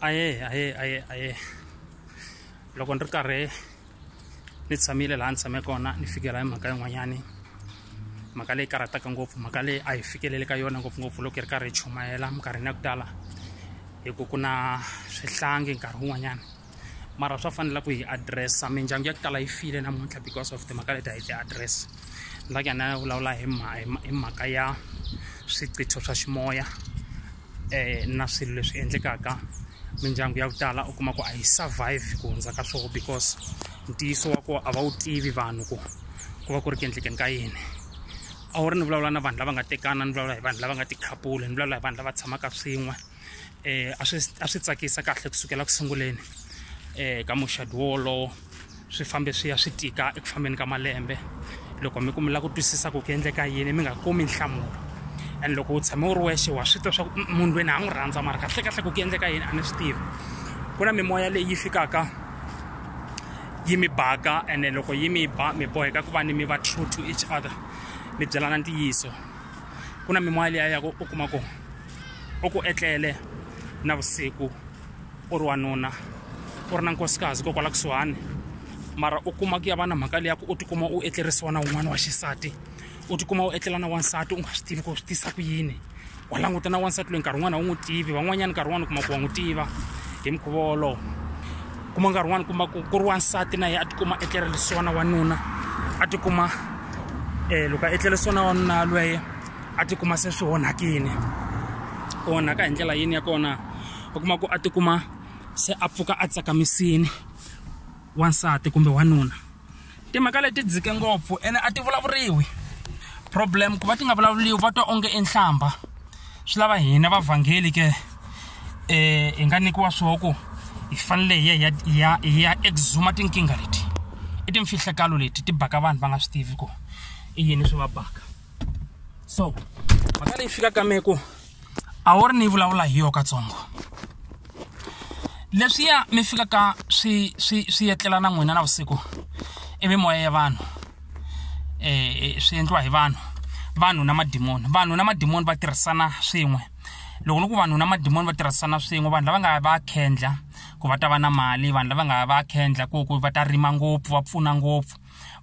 aye aye aye aye loko ni ri karhi ni tshamile laha ni tshame kona ni fikela hi mhaka yin'wanyani mhaka leyi karhataka ngopfu mhaka leyi a hi fikeleli ka yona ngopfungopfu loko hi ri karhi hi chumayela minkarhini ya ku tala hi ku ku na swihlangi nkarhi wun'wanyana mara swa fanela ku hi addressa mindyangu ya ku tala yi file namuntlha because of timhaka leti a hi ti address ni lake ana ya vulavula hi hi mhaka ya swiqitho swa ximoya um na swilo leswi endlekaka mindyangu ya ku tala u kuma ku a yi survive ku hundza ka swoho because ntiyiso wa koho a va wu tivi vanhu ku ku va ku ri ku endlekeni ka yini a wu ri ni vulavula na vanhu lava nga tekana ni vulavula hi vanhu lava nga tikhapuli ni vulavula hi vanhu lava tshamaka swin'we eh a swi a swi tsakisa kahle kusukela ku sunguleni eh ka muxado wolowo swi fambe swi ya swi tika eku fambeni ka malembe loko mi ku mi la ku twisisa ku ku endleka yini mi nga kumi nhlamulo and loko u tshame u ri wexe wa swi tiva swa ku munhu lweni a n'wi rhandza mara kahle kahle ku ku endleka yini a ni swi tivi ku na mimoya leyi fikaka yi mi baka ene loko yi mi ba mi boheka ku va ni mi va true to each other mi byelana ntiyiso ku na mimoya leyi a ya ku u kuma ku u ku etlele na vusiku u ri wanuna u ri na nkosikazi ko kwala kusuhani mara u kuma ku ya va na mhaka leyi ya ku u tikuma u etlerisiwa na un'wana wa xisati u tikuma u etlela na wansati u nga swi tivi ku swi tisa ku yini wa languta na wansati loyi nkarhi wun'wana a wu n'wi tivi van'wanyana nkarhi wun'wana u kuma ku wa n'wi tiva hi mukhuva wolowo kuma nkarhi wun'wana kuma ku ku ri wansati na yena a tikuma etlerisiwa na wanuna a tikuma um loko a etlerisiwa na wanuna lweye a tikuma se swi onhakile ku onhaka hi ndlela yini ya kona u kuma ku a tikuma se a pfuka a tsakamisini wansati kumbe wanuna timhaka leti dzike ngopfu ene a ti vulavuriwi problem ku va ti nga vulavuriwi va twa onge enhlamba swi lava hina vavhangeli ke um hi nga nyikiwa swoho ku hi fanele hi ya hi ya hi ya exuma tinkingha leti i timfihlakalo leti ti baka vanhu va nga swi tivi ku i yini swi va baka so mhaka leyi fika ka me ku a wu ri ni vulavula hi yo katsongo leswiya mi fikaka swi swi swi etlela na n'wina na vusiku i mimoya ya vanhu um swi endliwa hi vanhu vanhu na madimoni vanhu na madimoni va tirhisana swin'we loko ni ku vanhu na madimoni va tirhisana swin'we vanhu lava nga va khendla ku va ta va na mali vanhu lava nga va khendla ku ku va ta rima ngopfu va pfuna ngopfu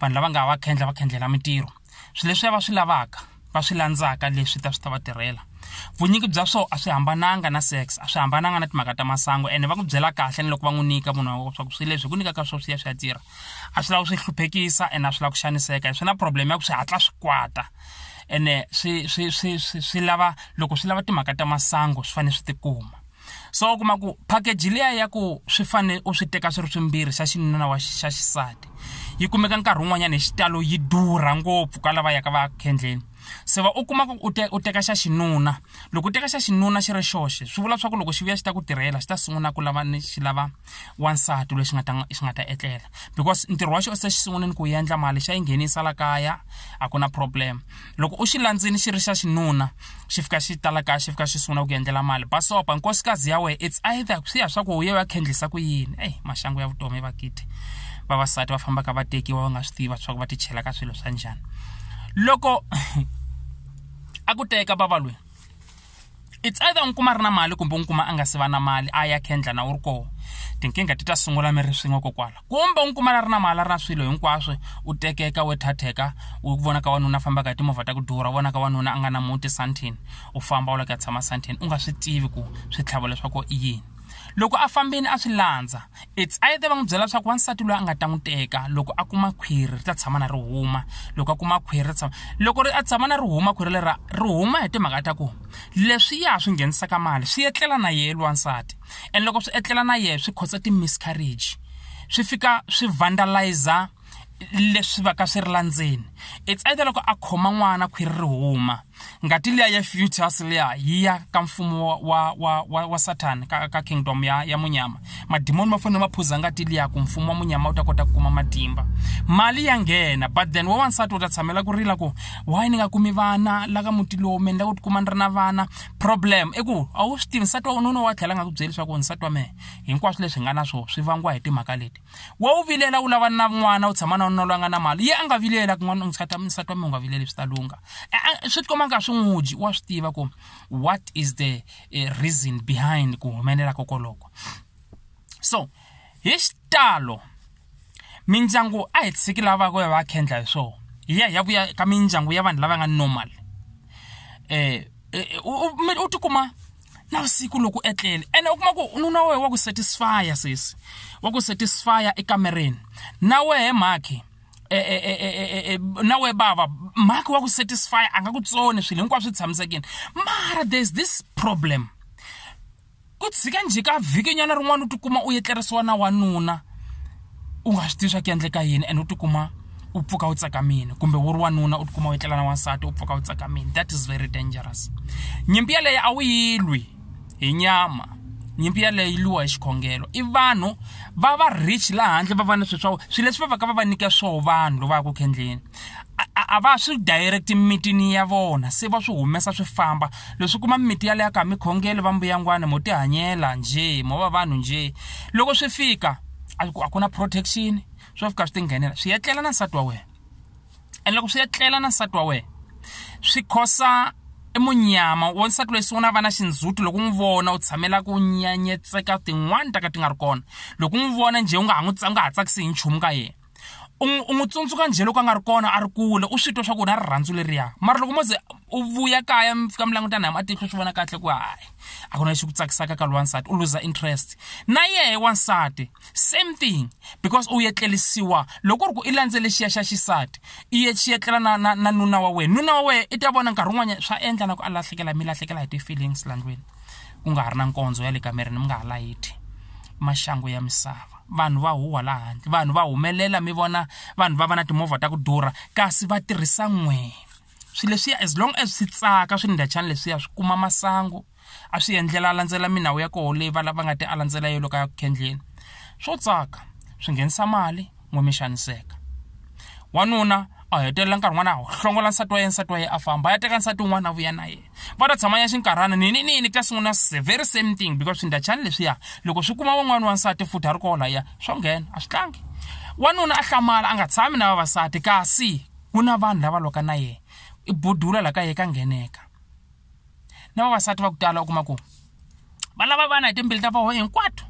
vanhu lava nga va khendla va khendlela mintirho swilo leswi va swi lavaka va swi landzaka leswi ta swi ta va tirhela vunyingi bya swo a swi hambananga na sex a swi hambananga na timhaka ta masangu ene va ku byela kahle ni loko va n'wi nyika munhu wa swaku swilo leswi hi ku nyikaka swo swi ya swi ya tirha a swi lava swi hluphekisa ene a swi lava ku xaniseka hi swi na problem ya ku swi hatla swi kwata ene swi swi swi swi swi lava loko swi lava timhaka ta masangu swi fanele swi tikuma so u kuma ku package liya ya ku swi fanele u swi teka swi ri swimbirhi xa xinuna wa xa xisati yi kumeka nkarhi wun'wanyana hi xitalo yi durha ngopfu ka lava yaka va khendleni se va u kuma ku u te u teka xa xinuna loko u teka xa xinuna xi ri xoxe swi vula swa ku loko xi vuya xi ta ku tirhela xi ta sungula ku lava ni xi lava wansati loyi xi nga ta xi nga ta etlela because ntirho wa xona se xi sunguleni ku endla mali xa yi nghenisa la kaya a ku na problem loko u xi landzini xi ri xa xinuna xi fika xi ta la kaya xi fika xi sungula ku endlela mali basopa nkosikazi ya wena it's either swi ya swa ku u ye va khendlisa ku yini eyi maxangu ya vutomi va kiti vavasati va fambaka va tekiwa va nga swi tiva swa ku va ti chela ka swilo swa njhani loko a ku teka vava lweyi it's either n'wi kuma ri na mali kumbe n'wi kuma a nga si va na mali a ya kendla na wu ri koho tinkingha ti ta sungula mi ri swin'we kokwala kumbe n'wi kuma la ri na mali a ri na swilo hinkwaswo u tekeka we thatheka u vona ka wanuna fambaka hi timovha ta ku durha vona ka wanuna a nga na muti santin u famba u la ku ya tshama santin u nga swi tivi ku swi tlhavo leswaku i yini loko a fambeni a swi landza It's either va n'wi byela leswaku wansati loyi a nga ta n'wi teka loko a kuma khwiri ri ta tshama na ri huma loko a kuma khwiri ri tshama loko ri a tshama na ri huma khwiri lera ri huma hi timhaka ta ku leswi ya swi nghenisaka mali swi etlela na yehe lwansati and loko swi etlela na yehe swi khotsa ti-miscarriage swi fika swi vandalizer leswi va ka swi ri la ndzeni it's either loko a khoma n'wana khwiri ri huma ngati liya ya fetus liya yi ya ka mfumo wa, wa, wa, wa satan ka, ka kingdom ya, ya munyama madimoni ma fanele ma phuza ngati liya ku mfumo wa munyama wu ta kota ku kuma matimba mali ya nghena but then wawansati u ta tshamela ku rila ku why ni nga kumi vana la ka muti lowu mi endla ku tikuma ni ri na vana problem i ku a wu swi tivi nsati wa ununa wa tlhela nga ku byeli leswaku nsati wa mehe hinkwaswo leswi hi nga na swo swi vangiwa hi timhaka leti wa wu vilela wu lava na n'wana u tshama na nuna loyi a nga na mali ye a nga vilela kun'wana nsati wa nsati wa mina u nga vileli swi ta lungha swi ti komba nga swi n'wi dyi wa swi tiva ku what is the eh, reason behind ku humelela kokoloko so hi xitalo mindyangu a hi tshiki lava ku ya va khendla hi swona hi ya hi ya vuya ka mindyangu ya vanhu lava nga normal eh, eh, eh u tikuma navusiku loko etlele ene u kuma ku nuna wa wena wa ku satisfya sesi wa ku satisfya ekamereni na wehe mhakhi e, e, e, na we bava mhakhi wa ku satisfy a nga ku tsoni swilo hinkwaswo swi tshamisekile mara there's this problem ku tshika njhe ka vhikinyana rin'wana u tikuma u etlerisiwa na wanuna u nga swi tivi swa ku endleka yini and u tikuma u pfuka u tsakamile kumbe wu ri wanuna u tikuma u etlela na wansati u pfuka u tsakamile that is very dangerous nyimpi yeleyo a wu yi lwi hi nyama nyimpi yeleyo yi lwiwa hi xikhongelo i vanhu va va rich laha handle va va ni swilo swa swilo leswi va va ka va va nyike swoho vanhu loko va ya ku khendleni a va swi direct mimitini ya vona se va swi humesa swi famba leswi kuma mimiti yaleyo ka mikhongelo va mbuyangwana mo tihanyela njhe mo va vanhu njhe loko swi fika a ku a ku na protection swo fika swi tinghenela swi etlela na nsati wa wena and loko swi etlela na nsati wa wena swi khosa i munyama wa nsati loyi sungula a va na xindzhuti loko n'wi vona u tshamela ku nyanyetseka tin'wani ta ka ti nga ri kona loko n'wi vona njhe u nga ha n'wi nga ha tsakisi hi nchumu ka yena u n'wi tsundzuka njhe loko a nga ri kona a ri kule u swi twa swa ku na rirhandzu leriya mara loko mo ze u vuya kaya mi fika mi languta na hi matihlo swi vona kahle ku hayi a ku na lexi ku tsakisaka ka lwansati u luza interest na yehe wansati same thing because u yetlelisiwa loko ku ri ku i landzele xiya xa xisati i ye xi yetlela na na na nuna wa wena nuna wa wena i ta vona nkarhi wun'wanyana swa endla na ku a lahlekela mi lahlekela hi ti-feelings landlwini ku nga ha ri na nkondzo ya le kamereni mi nga ha layithi maxangu ya misava vanhu va huhwa laha handle vanhu va humelela mi vona vanhu va va na timovha ta ku durha kasi va tirhisa n'wina swi leswiya as long as swi tsaka swi ndhachani leswiya swi kuma masangu a swi endlela a landzela minawu ya koho leyi va lava nga ti a landzela yo loko ya ku khendleni swo tsaka swi nghenisa mali n'we mi xaniseka wanuna a hetelela nkarhi n'wana a hlongola nsati wa ye nsati wa ye a famba a ya teka nsati un'wana a vuya na ye va ta tshama ya xinkarhana nini nini ta sungula very same thing because swindachani leswiya loko swi kuma wan'wana wa nsati futhi a ri koho layiya swo nghena a swi tlangi wanuna a hlamala a nga tshami na vavasati kasi ku na vanhu lava lwaka na yena i budula la ka ye ka ngheneka na vavasati va ku tala u kuma ku va lava vana hi timbili ta voho hinkwato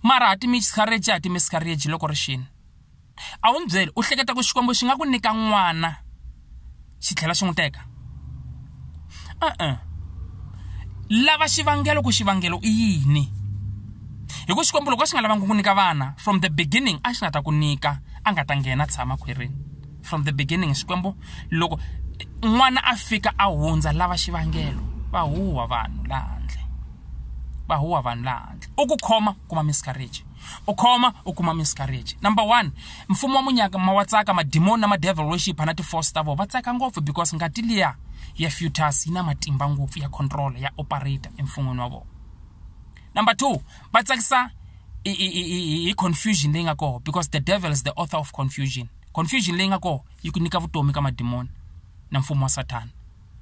mara ha ti miscarriage ha ti miscarriage loko ri xini a wu ni byeli u hleketa ku xikwembu xi nga ku nyika n'wana xi tlhela xi n'wi teka e-e lava xivangelo ku xivangelo i yini hi ku xikwembu loko a xi nga lavangi ku nyika vana from the beginning a xi nga ta ku nyika a nga ta nghena tshama khwirini from the beginning xikwembu loko n'wana a fika a hundza lava xivangelo va huwa vanhu laha handle va huwa vanhu laha handle u ku khoma kuma miscarriage u khoma u kuma miscarriage number one mfumo wa munyaka ma wa tsaka madimoni na madevil worship na tiforce ta vona va tsaka ngopfu because ngati liya ya futus yi na matimba ngopfu ya control ya operator emfun'wini wa vona number two va tsakisa hi confusion leyi nga kona because the devil is the author of confusion confusion leyi nga kona yi ku nyika vutomi ka madimoni na mfumo wa sathana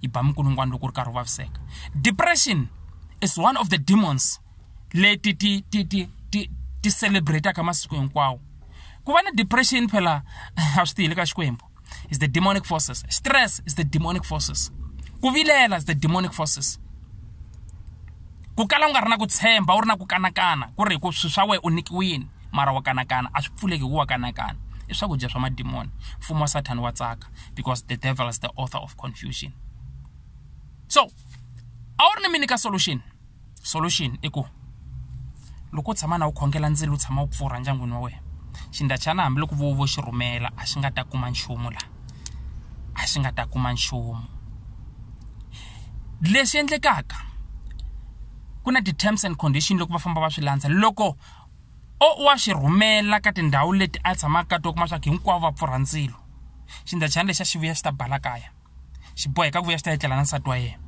yi ba minkulungwana loko ri karhi u vaviseka depression is one of the demons leti ti ti ti ti ti celebrataka masiku hinkwawo ku va na depression phela a swi tiyile ka xikwembu is the demonic forces stress is the demonic forces ku vilela is the demonic forces ku kala u nga ri na ku tshemba u ri na ku kanakana ku ri ku swi swa wena u nikiwini mara wa kanakana a swi pfuleki ku wa kanakana i swakudya swa madimoni mfumo wa sathani wa tsaka because the devil is the author of confusion so a wu ri ni mini ka solution solution i ku loko u tshama na wu khongela ndzilo wu tshama wu pfurha ndyangwini wa wena xindachana hambiloko vo vo xi rhumela a xi nga ta kuma nchumu laha a xi nga ta kuma nchumu lexi endlekaka ku na ti-terms and condition loko va famba va swi landza loko o wa swi rhumela ka tindhawu leti a tshamaka ka to kuma swa ku hinkwavo va pfurha ndzilo xindachana lexi a xi vuya xi ta bala kaya xi boheka ku vuya xi ta etlela na nsati wa yena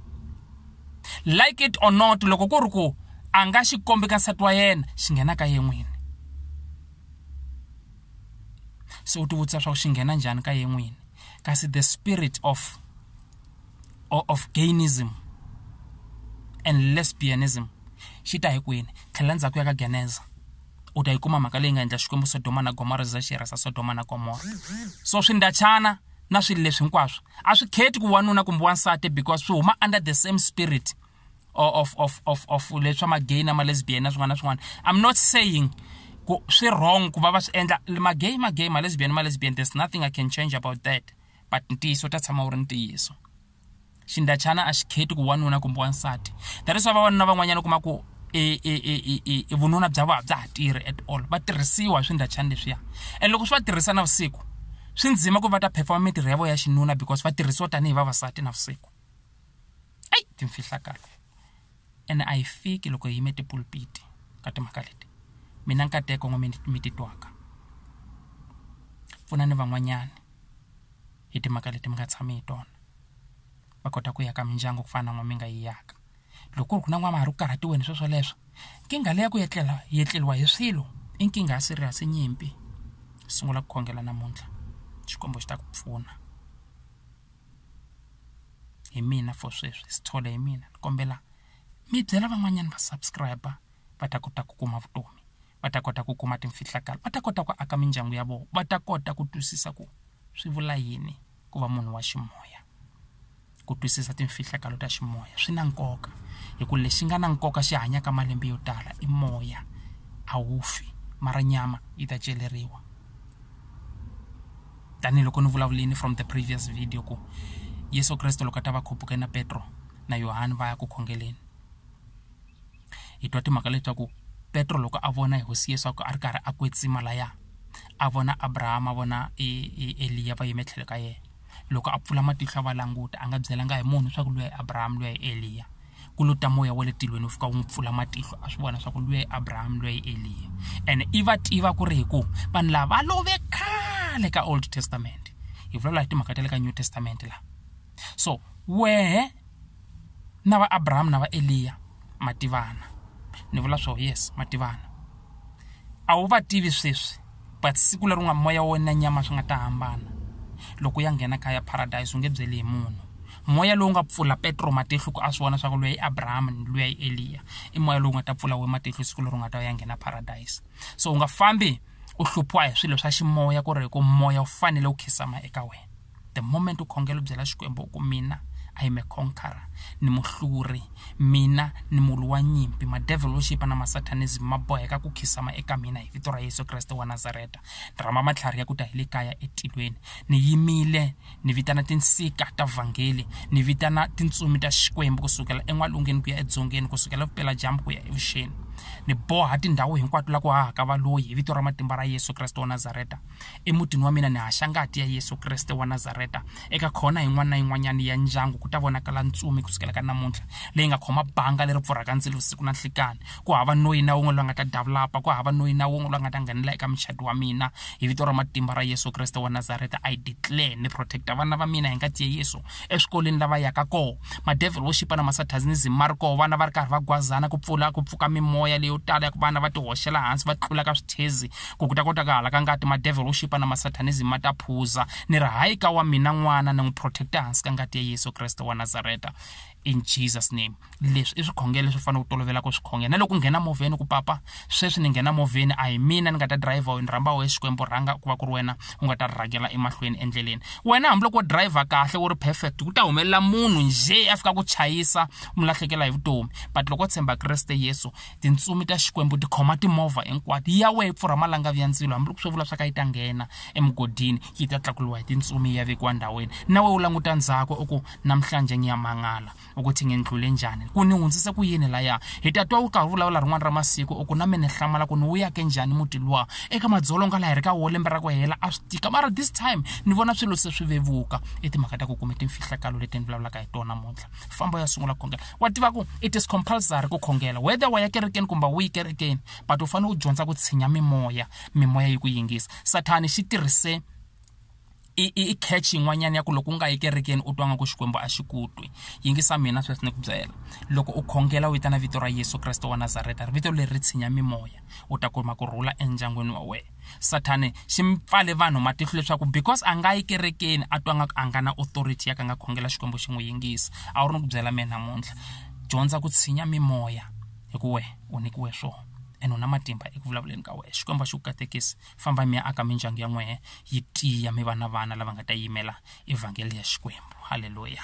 like it or not loko ku ri ku a nga xi kombi ka nsati wa yena xi nghena ka ye n'wini se u tivutisa swa ku xi nghena njhani ka ye n'wini kasi the spirit of of gainism and lesbianism xi ta hi kwini tlhela ndzhaku ya ka geneza u ta yi kuma mhaka leyi nga endla xikwembu sodoma na gomora za xi rhasa sodoma na gomora so swindachana na swilo leswi hinkwaswo a swi kheti ku wanuna kumbe wansati because swi huma under the same spirit of of of of leswa magay na malesbian na swin'wana na swin'wana i'm not saying ku swi wrong ku va va swi endla magay magay malesbian malesbian there's nothing i can change about that but ntiyiso ta tshama wu ri ntiyiso xindachana a xi kheti ku wanuna kumbe wansati that is why vavanuna van'wanyana u kuma ku e, e, e, e vununa bya vona bya ha tirhi at all va tirhisiwa hi swindachana leswiya and loko swi va tirhisa navusiku swi ndzima ku va ta performa mintirho ya vona ya xinuna because va tirhisiwa tanihi vavasati navusiku eyi timfihlakalo and a yi fiki loko hi yime tipulpiti ka timhaka leti mina nkateko n'we mi titwaka pfunani van'wanyana hi timhaka leti mi nga tshami hi tona va kota ku ya ka mindyangu ku fana na n'wana mi nga yi yaka loko ku ri ku na n'wana mahari ku karhatiwe ni sweswo leswo nkingha leyi ya ku etlela yi etleriwa hi swilo i nkingha ya serious nyimpi sungula ku khongela namuntlha xikwembu xi ta ku pfuna hi mina for sweswi si tshole hi mina ni kombela mi byela van'wanyana va subscribe va ta kota ku kuma vutomi va ta kota ku kuma timfihlakalo va ta kota ku aka mindyangu ya vona va ta kota ku twisisa ku swi vula yini ku va munhu wa ximoya ku twisisa timfihlakalo ta ximoya swi na nkoka hi ku lexi nga na nkoka xi hanyaka malembe yo tala i moya a wu fi mara nyama yi ta celeriwa tanihiloko ni vulavulini from the previous video ku yesu kreste loko a ta va khuphuke na petro na yohani va ya ku khongeleni hi twa timhaka leswaku petro loko a vona hi hosi yesu a ri karhi a kwetsima laya a vona abrahama a vona e, e, eliya va yime tlhelo ka yena loko a pfula matihlo a va languta a nga byelanga hi munhu leswaku luya hi abrahama luya hi eliya ku lo ta moya wa le tilweni wu fika wu n'wi pfula matihlo a swi vona leswaku luya hi abrahama luya hi eliya ene i va tiva ku ri hi ku vanhu lava va love khale ka old testament hi vulavula hi timhaka ta le ka new testament laha so wehe na va Abraham na va Eliya mativana ni vula swo yes mativana a wu va tivi sweswi but siku leri u nga moya wo na nyama swi nga ta hambana loko ya nghena kaya paradise u nge byeli hi munhu moya lowu nga pfula petro matihlo ku a swi vona swa ku luya i abraham ni luya i eliya i moya lowu nga ta pfula we matihlo siku leri u nga ta ya nghena paradise so u nga fambi u hluphiwa hi swilo swa ximoya ku ri hi ku moya wu fanele wu khisama eka wena the moment u khongela u byela xikwembu u ku mina i am a conqueror ni muhluri mina ni mulu wa nyimpi madevil wo xipa na masatanism ma boheka ku khisama eka mina hi vito ra yesu kreste wa nazareta ni rhamba matlhari ya ku ta hi le kaya etilweni ni yimile ni vitana tinsika ta vhangeli ni vitana tintsumi ta xikwembu ku sukela en'walungeni ku ya edzongeni ku sukela vupela dyambu ku ya evuxeni ni boha tindhawu hinkwato la ku hahaka valoyi hi vito ra matimba ra yesu kreste wa nazareta emutini wa mina ni haxa ngati ya yesu kreste wa nazareta eka khona yin'wana na yin'wanyana ya ndyangu ku ta vonakala ntsumi ku sukela ka namuntlha leyi nga khoma banga leri pfurhaka ndzilo vusiku na nhlikani ku hava noyi na wun'we loyi nga ta davulapa ku hava noyi na wun'we loyi nga ta nghenela eka muchadi wa mina hi vito ra matimba ra yesu kreste wa nazareta i declare ni protecta vana va mina hi ngati ya yesu eswikolweni lava yaka koho madevil wo xipa na masatanism ma ri koho vana va ri karhi va gwazana ku pfula ku pfuka mimoya leyo tala ya ku vana va ti hoxela hansi va tlula ka swithezi ku ku ta kota ka hala ka ngati madevil wo xipa na masatanism ma ta phuza ni ri hayi ka wa mina n'wana ni n'wi protecta hansi ka ngati ya yesu kreste wa nazareta in jesus name leswi i swikhongelo leswi fanele u tolovela ku swi khongela na loko u nghena movheni ku papa sweswi ni nghena movheni a hi mina ni nga ta driver wena rhamba wehe xikwembu rhanga ku va ku ri wena u nga ta rhangela emahlweni endleleni wena hambiloko wo driver kahle wu ri perfect ku ta humelela munhu njhe a fika ku chayisa mu lahlekela hi vutomi but loko tshemba kreste yesu tintsumi ta xikwembu ti khoma timovha hinkwato ya wehe yi pfurha malangavi ya ndzilo hambiloko swo vula swa ka yi ta nghena emugodini yi ta tlakuliwa hi tintsumi yi ya vekiwa ndhawini na wehe u languta ndzhaku u ku namhlanje ni ya mangala u ku tinghendlule njhani ku ni hundzise ku yini laya hi ta twa u karhi vulavula rin'wana ra masiku u ku na mina hlamala ku ni wu yake njhani muti luwa eka madzolonga laha hi ri ka wo lembe ra ku hela a swi tika mara this time ni vona swilo se swi vevuka i timhaka ta ku kume timfihlakalo leti ni vulavulaka hi tona muntlha famba ya sungula khongela wa tiva ku it is compulsory ku khongela whether wa ya kerekeni kumbe wu yi kerekeni but u fanele u dyondza ku tshinya mimoya mimoya yi ku yingisa sathani xi tirhise i i i catch yin'wanyana ya ku loko u nga yi kerekeni u twa nga ku xikwembu a xi ku twi yingisa mina sweswi ni ku byela loko u khongela u vitana vito ra yesu kreste wa nazareta ri vito leri ri tshinya mimoya u ta kuma ku rhula endyangwini wa wena sathane xi mi pfale vanhu matihlo leswaku because a nga yi kerekeni a twa nga ku a nga na authority ya ka nga khongela xikwembu xi n'wi yingisa a wu ri ni ku byela mina namuntlha dyondza ku tshinya mimoya hi ku wehe u nyikiwe swona ene u na matimba eku vulavuleni ka wena xikwembu a xi ku katekisi famba mi ya aka mindyangu ya n'wehe yi tiya mi va na vana lava nga ta yimela evhangeli ya xikwembu halleluya